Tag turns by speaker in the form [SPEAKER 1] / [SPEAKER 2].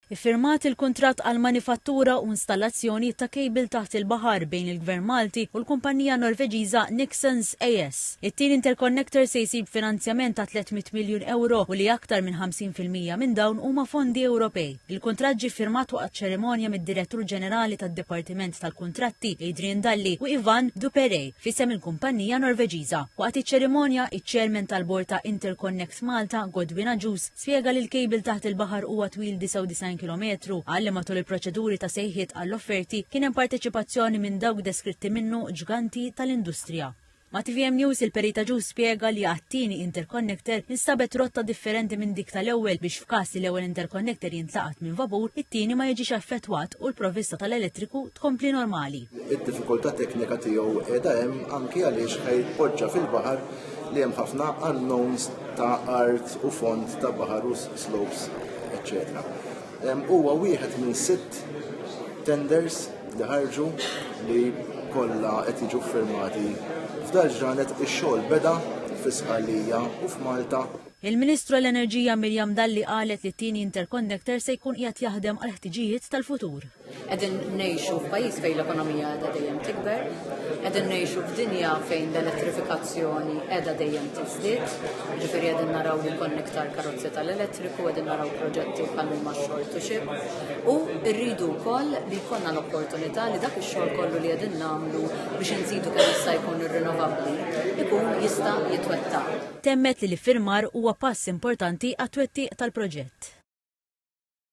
[SPEAKER 1] Iffirmat il-kuntratt għall-manifattura u installazzjoni ta' kejbil taħt il-baħar bejn il-Gvern Malti u l-kumpannija Norveġiża Nixons AS. It-tieni interconnector se jsib finanzjament ta' 300 miljun ewro u li aktar minn 50 fil-mija minn dawn huma fondi Ewropej. Il-kuntratt ġie ffirmat waqt ċerimonja mid-Direttur Ġenerali tad-Dipartiment tal-Kuntratti Adrian Dalli u Yvan Duperrey f'isem il-kumpannija Norveġiża. Waqt iċ-ċerimonja, iċ-Chairman tal-Bord ta' Interconnect Malta, Godwin Agius, Spjega li l-kejbil taħt il-baħar huwa twil 99 kilometru, qal li matul il-proċeduri ta' sejħiet għall-offerti kien hemm parteċipazzjoni minn dawk deskritti minnu ġganti tal-industrija. Ma' tvm News il-Perit Agius spjega li għat-tieni interconnector instabet rotta differenti minn dik tal-ewwel biex f'każ li l-ewwel interconnector jintlaqat minn vapur, it-tieni ma jiġix affettwat u l-provvista tal-elettriku tkompli normali. Id-diffikultà teknika
[SPEAKER 2] tiegħu qiegħda hemm anki għaliex ħajpoġġa fil-baħar li hemm ħafna unknowns ta' art u fond ta' baħar u slopes, etc. Huwa wieħed minn sitt tenders li ħarġu li kollha qed jiġu firmati. F'dal ġranet ix-xogħol beda fis-Sqallija u f'Malta. Il-Ministru
[SPEAKER 1] għall-Enerġija Miriam Dalli qalet li t-tieni interconnector se jkun qiegħed jaħdem għall-ħtiġijiet tal-futur. Qegħdin
[SPEAKER 3] ngħixu f'pajjiż fejn l-ekonomija qiegħda dejjem tikber, qegħdin ngħixu f'dinja fejn l-elettrifikazzjoni qiegħda dejjem tiżdied, ġifieri qegħdin naraw li jkun iktar karozzi tal-elettriku, qegħdin naraw proġetti bħal huma xogħol to xi. U rridu wkoll li jkollna l-opportunità li dak ix-xogħol kollu li qegħdin nagħmlu biex inżidu kemm jista' jkun irrinovabbli ikun jista' jitwettaq.
[SPEAKER 1] Temmet li l-iffirmar huwa pass importanti
[SPEAKER 3] għat-twettiq
[SPEAKER 1] tal-proġett.